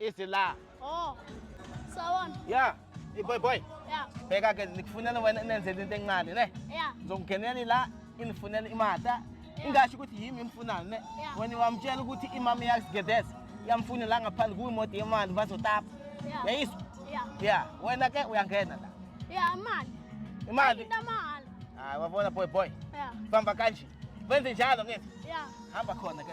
Easy la. Oh. Sawona. Yeah. Hey boy boy. Yeah. Bheka ke nikufunela wena nenzele into encane ne. Yeah. Ngizongenela la inifunela imata. Ingasho ukuthi yimi imfunayo ne. Wena wamtshela ukuthi imama yakugedeza. Yamfuna la ngaphandle kuyi modi yemali bazotapa. Yeah. Yayizwa? Yeah. Yeah. Wena ke uyangena la. Yeah, imali. Imali. Intamali. Hayi wabona boy boy. Yeah. Famba kanje. Wenze njalo ngithi. Yeah. Hamba khona ke.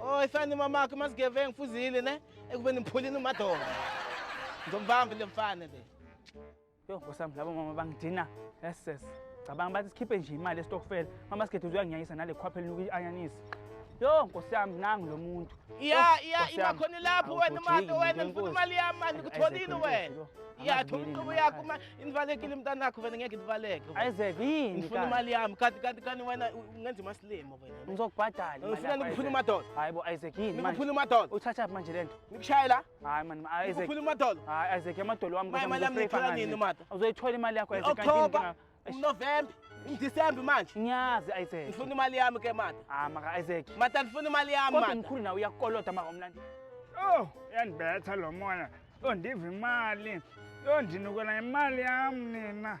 Oh, ifani mamakhe masigevengu fuzile ne ekubeni mphulini umadonga. Ngizombamba le mfana le. Yo, nkosami labo mama bangidina. Yes sis. Cabanga bathi sikhiphe nje imali estokfela. Mama sikhethe uzoyangiyayisa nale khwaphe linuka ianyanisi. Yo, nkosi yami nangu lo muntu. Iya iya Nkosi yami. imakhona lapho wena Awugojeki, manje wena ngifuna ngenkulu. imali yami manje Isaac, kuthonile Isaac, wena. Isaac, Iya Isaac, thuma inqubo Isaac. yakho ma inivalekile mntanakho wena ngeke ndivaleke. Isaac yini? Ngifuna kanti? imali yami kanti kanti kanti wena u- ungenza imasilimo. Ngizokubhadala. Ngifuna nikuphule umadolo. Hayi bo Isaac yini manje? Nikuphule umadolo. Uthatha phi manje lento? Nikushaya la? Hayi man Isaac. Nikuphule umadolo. Hayi Isaac amadolo wami kodwa imali yami ngithola nini mata? Uzoyithola imali yakho Isaac kanti October, November, December manje. Ngiyazi Isaac. Ngifuna imali yami ke mata. Ah maka Isaac. Mata ngifuna imali yami mata. Kodwa ngikhulu nawe uyakolota maka umlandi. Oh, yandibetha lo moya. Yondiva imali. Yondinukela imali yami nina.